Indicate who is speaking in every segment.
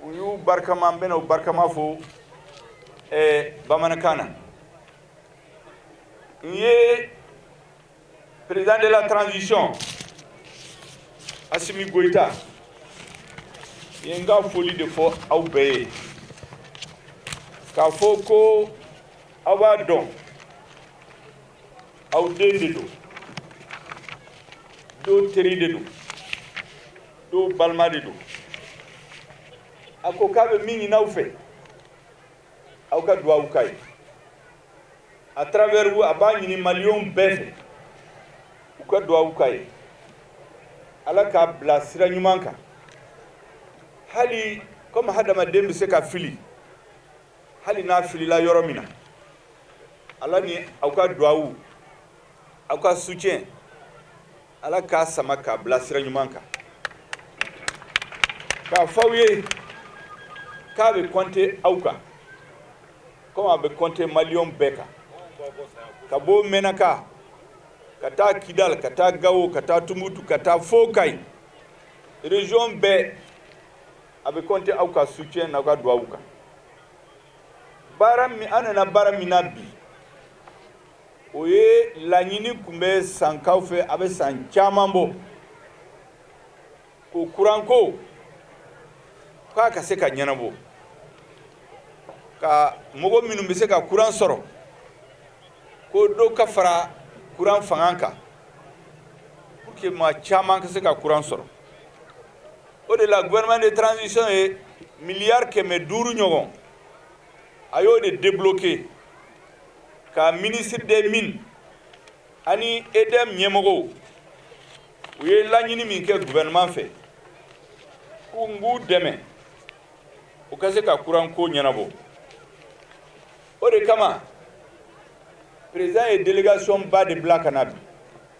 Speaker 1: u y'u barikama n bɛna u barikama fo bamanankan na n ye président de la transition assimi goïta ye n ka foli de fɔ aw bɛɛ ye k'a fɔ ko aw b'a dɔn aw den de don dɔw teri de don dɔw balima de don a ko k'a bɛ min ɲini aw fɛ aw ka duwawu k'a ye à travers vous a b'a ɲini maliyɛnw bɛɛ fɛ u ka duwawu k'a ye ala k'a bila sira ɲuman kan hali comme hadamaden bɛ se ka fili hali n'a filila yɔrɔ min na ala ni aw ka duwawu aw ka soutien ala k'a sama k'a bila sira ɲuman kan k'a fɔ aw ye k'a bɛ compter aw kan comme a bɛ compter maliyɛnw bɛɛ kan ka bɔ menaka ka taa kidal ka taa gawo ka taa tumutu ka taa fo kayi région bɛɛ A bɛ compter aw ka soutien n'aw ka duwawu kan baara min an nana baara min na bi o ye laɲini tun bɛ sankaw fɛ a bɛ san caman bɔ ko kuranko k'a ka se ka ɲɛnabɔ ka mɔgɔ minnu bɛ se ka kuran sɔrɔ ko dɔ ka fara kuran fanga kan pour que maa caman ka se ka kuran sɔrɔ o de la gouvernement de transition ye miliyari kɛmɛ duuru ɲɔgɔn a y'o de débloquer ka ministre des mines ani EDM ɲɛmɔgɔw u ye laɲini min kɛ gouvernement fɛ ko an k'u dɛmɛ u ka se ka kuran ko ɲɛnabɔ o de kama président ye délégation ba de bila ka na bi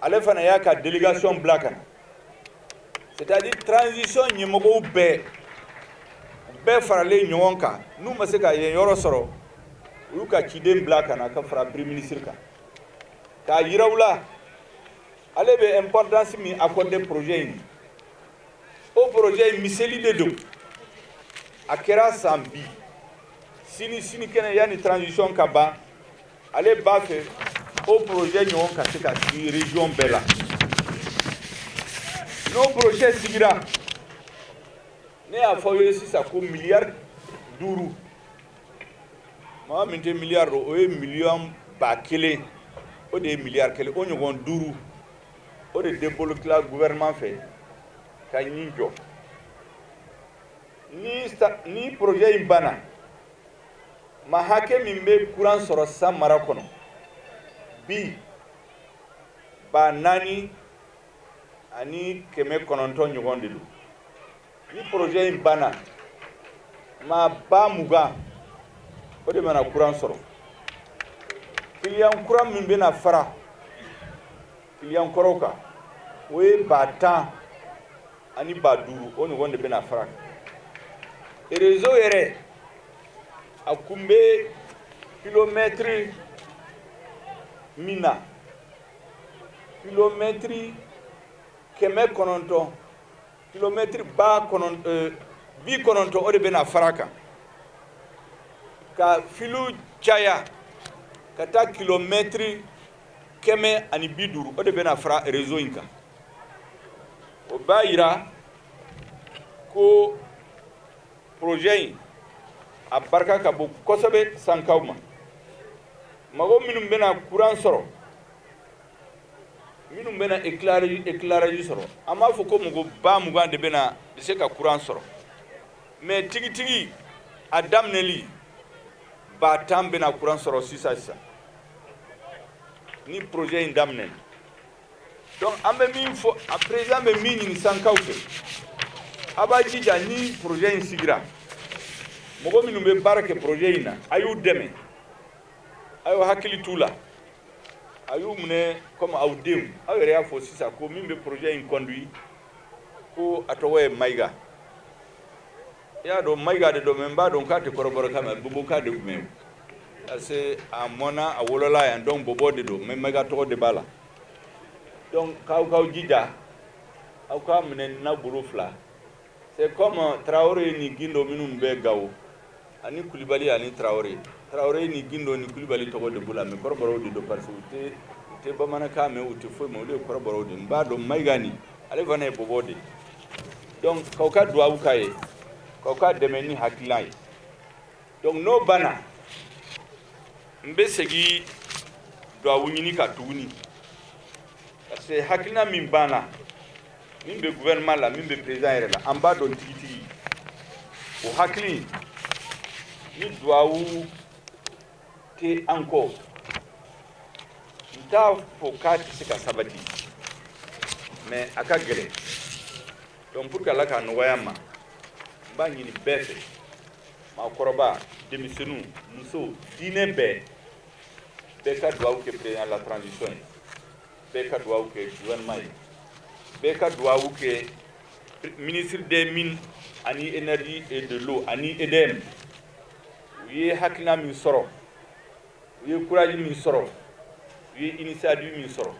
Speaker 1: ale fana y'a ka délégation bila ka na c'est à dire transition ɲɛmɔgɔw bɛɛ bɛɛ faralen ɲɔgɔn kan n'u ma se ka yen yɔrɔ sɔrɔ u y'u ka ciden bila ka na ka fara premier ministre kan k'a yira u la ale bɛ importance min accordé projet in o projet in miseli de don a kɛra san bi sini sinikɛnɛ yanni transition ka ban ale b'a fɛ o projet ɲɔgɔn ka se ka sigi region bɛɛ la n'o projet sigira ne y'a fɔ aw ye sisan ko miliyari duuru maa min tɛ miliyari dɔn o ye miliyɔn ba kelen o de ye miliyari kelen o ɲɔgɔn duuru o de debolokela gouvernement fɛ ka nin jɔ ni projet in banna maa hakɛ min bɛ kuran sɔrɔ san mara kɔnɔ bi ba naani ani kɛmɛ kɔnɔntɔn ɲɔgɔn de don ni porozɛ in banna maa ba mugan o de bɛna kuran sɔrɔ kiliyan kura min bɛna fara Kiliyan kɔrɔw kan o ye ba tan ani ba duuru o ɲɔgɔn de bɛna fara kan rezo yɛrɛ a kun bɛ kilomɛtiri min na kilomɛtiri kɛmɛ kɔnɔntɔn kilomɛtiri ba eh, bi kɔnɔntɔn o de bɛna fara kan ka filiw caya ka taa kilomɛtiri kɛmɛ ani bi duuru o de bɛna fara rezo in kan o b'a yira ko porozɛ in a barika ka bon kosɛbɛ sankaw ma mɔgɔ minnu bɛna kuran sɔrɔ minnu bɛna ekilaraji sɔrɔ an b'a fɔ ko mɔgɔ ba mugan de bɛna bɛ se ka kuran sɔrɔ mɛ tigitigi a daminɛli ba tan bɛna kuran sɔrɔ sisan sisan ni projet in daminɛ donc an bɛ min fɔ a président bɛ min ɲini sankaw fɛ a b'a jija ni projet in sigira mɔgɔ minnu bɛ baara kɛ projet in na a y'u dɛmɛ a y'u hakili t'u la a y'u minɛ comme aw denw aw yɛrɛ y'a fɔ sisan ko min bɛ projet in conduit ko a tɔgɔ ye mayiga I y'a dɔn mayiga de don n b'a dɔn k'a tɛ kɔrɔbɔrɔkan mɛn bɔbɔkan de tun parce que a mɔna a wolola yan donc bɔbɔ de don mɛ mayiga tɔgɔ de b'a la k'aw k'aw jija aw k'a minɛ n'aw bolo fila se kɔma tarawele ni gindo minnu bɛ gawo ani kulibali ani tarawele tarawele ni gindo ni kulibali tɔgɔ de b'u la mɛ kɔrɔbɔrɔw de don parce que u tɛ bamanankan mɛn u tɛ foyi mɛn olu ye kɔrɔbɔrɔw de b'a dɔn mayiga nin ale fana ye bɔbɔ de donc k'aw ka duwawu k'a ye k'aw k'a dɛmɛ ni hakilina ye donc n'o banna n bɛ segin duwawu ɲini kan tuguni parce que hakilina min b'an na min bɛ gouvernement la min bɛ président yɛrɛ la an b'a dɔn tigitigi o hakili ni duwawu tɛ an kɔ n t'a fɔ k'a tɛ se ka sabati mais a ka gɛlɛn donc pour que ala k'a nɔgɔya an ma n b'a ɲini bɛɛ fɛ maakɔrɔba denmisɛnninw musow diinɛ bɛɛ bɛɛ ka duwawu kɛ président la transition ye bɛɛ ka duwawu kɛ gouvernement ye bɛɛ ka duwawu kɛ ministre des mines ani énergie et de l'eau ani edm u ye hakilina min sɔrɔ u ye courage min sɔrɔ u ye initiative min sɔrɔ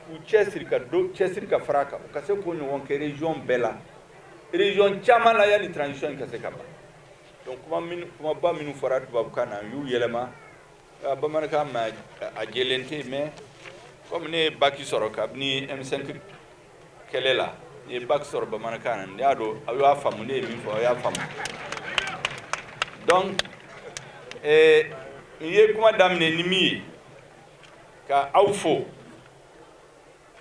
Speaker 1: k'u cɛsiri ka dɔ cɛsiri ka fara a kan u ka se k'o ɲɔgɔn kɛ région bɛɛ la région caman la yanni transition in ka se ka ban donc kuma min kumaba minnu fɔra tubabukan na n y'u yɛlɛma bamanankan ma a jɛlen tɛ mais comme ne ye bac sɔrɔ kabini M5 kɛlɛ la n ye bac sɔrɔ bamanankan na n y'a dɔn aw y'a faamu ne ye min fɔ aw y'a faamu donc eh, n ye kuma daminɛ ni min ye ka aw fo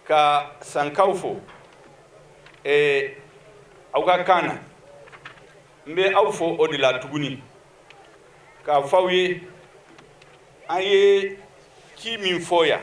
Speaker 1: ka sankaw fo eh, aw ka kan na n bɛ aw fo o de la tuguni k'a fɔ aw ye an ye ci min fɔ yan